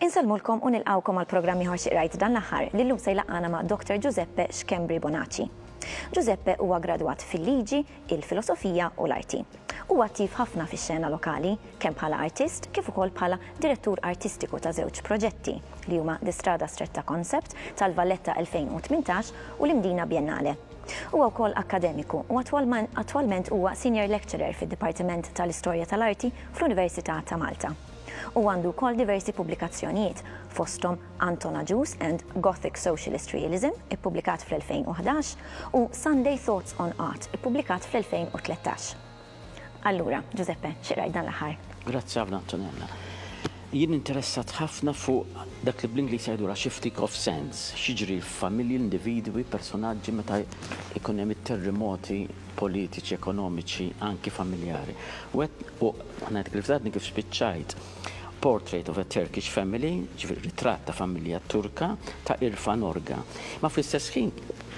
Insellmulkom u nilqawkom għal programm ieħor xi qrajt dan l-aħħar li llum se jlaqqana ma' Dr. Giuseppe Schembri Bonacci. Giuseppe huwa gradwat fil-liġi, il-filosofija u l-arti. Huwa attiv ħafna fix-xena lokali, kemm bħala artist kif ukoll bħala direttur artistiku ta' żewġ proġetti, li huma The Strada Stretta Concept tal-Valletta 2018 u l-Imdina Biennale. Huwa wkoll akkademiku u attwalment huwa Senior Lecturer fid-Dipartiment tal-Istorja tal-Arti fl-Università ta' Malta. Huwa għandu wkoll diversi pubblikazzjonijiet, fosthom Anton Agius and Gothic Socialist Realism, ippubblikat fl-2011, u Sunday Thoughts on Art, ippubblikat fl-2013. Allura, Ġużeppe, xi qrajt dan l-aħħar? Grazzi ħafna, Antonella. Jien interessat ħafna fuq dak li bl-Ingliż jgħidulha shifting of sands, x'jiġri f'familji, individwi, personaġġi meta jkun hemm it-terrimoti politiċi, ekonomiċi, anki familjari. U qed, u ngħidlek il-verità, għadni kif spiċċajt. Portrait of a Turkish Family, ġifieri ritratt ta' familja Turka, ta' Irfan Orga. Imma fl-istess ħin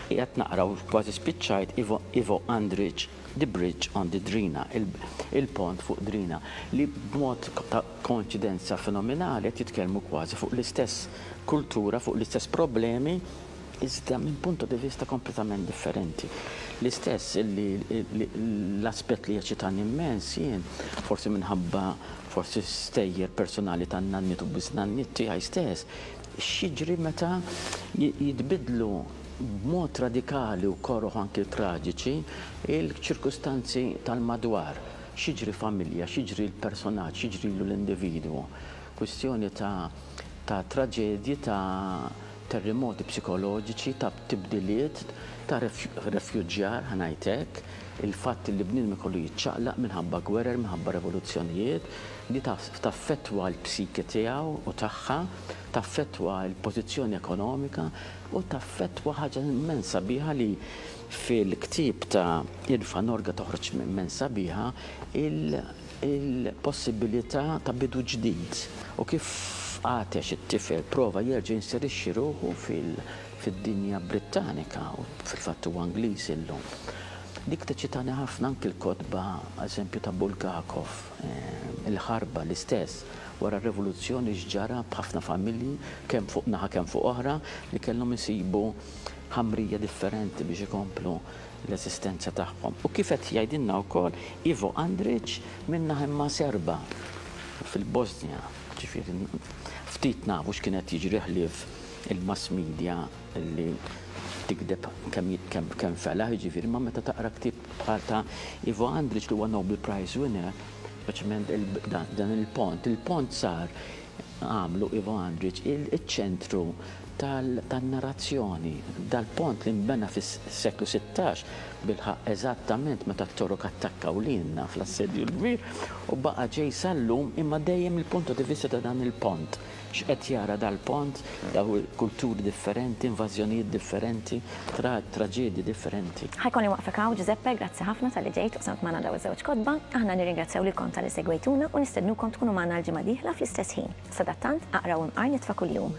qiegħed naqra u kważi spiċċajt Ivo Ivo Andrić, The Bridge on the Drina, Il-Pont fuq Drina, li b'mod ta' koinċidenza fenomenali qed jitkellmu kważi fuq l-istess kultura, fuq l-istess problemi. iżda minn punto di vista kompletament differenti. L-istess li l-aspett li jeċċitani immens jien, forsi minħabba forsi stejjer personali tan-nanniet u biżnanniet tiegħi stess, x'jiġri meta jitbiddlu b'mod radikali u koroh anki traġiċi l-ċirkustanzi tal-madwar, x'jiġri familja, x'jiġri l-personaġġ, x'jiġrilu l-individwu. Kwistjoni ta' traġedji ta' terrimoti psikoloġiċi, ta' tibdiliet, ta' refuġjar, ħa ngħid hekk, il-fatt li bniedem ikollu jiċċaqlaq minħabba gwerer, minħabba revoluzzjonijiet, li taffettwa l-psiki tiegħu u tagħha, taffettwa l-pożizzjoni ekonomika u taffettwa ħaġa immenz sabiħa li fil-ktieb ta' Irfa Norga toħroġ immenz sabiħa, il. il-possibilità ta' bidu ġdid u kif għatex it-tifel prova jerġa' jinserixxi ruħu fid-dinja Brittanika, u fil-fatt huwa Ingliż illum. Dik teċċitani ħafna anki l-kotba, eżempju, ta' Bulgakov, Il-Ħarba, l-istess, wara r-Revoluzzjoni x'ġara b'ħafna familji kemm fuq naħa kemm fuq oħra li kellhom isibu ħamrija differenti biex ikomplu l-eżistenza tagħhom. U kif qed jgħidilna wkoll Ivo Andric minn Naħimma Serba fil-Bosnja, ġifieri ftit nafu x'kien qed jiġri ħlief il-mass media li tikdeb kemm felaħ, jiġifieri imma meta taqra ktieb bħal ta' Ivo Andric li huwa Nobel Prize winner, speċjalment dan il-pont. Il-pont sar għamlu Ivo Andrić iċ-ċentru tan-narrazzjoni. Dal-pont li nbena fis-seklu sittax bilħaqq eżattament meta t-Torok attakkaw lilna fl-Assedju l-Kbir u baqa' ġej sal-lum imma dejjem il-punto di vista ta' dan il-pont, x'qed jara dal-pont, dawn il-kulturi differenti, invażjonijiet differenti. Trat traġedji differenti. Ħa jkolli nwaqqfek hawn Ġużeppe, grazzi ħafna talli ġejt u qsamt magħna dawn iż-żewġ kotba. Aħna nirringrazzjaw lilkom talli segwejtuna u nistednukom tkunu magħna l-ġimgħa dieħla fl-istess ħin. Sadattant, aqraw imqar nitfa' kuljum.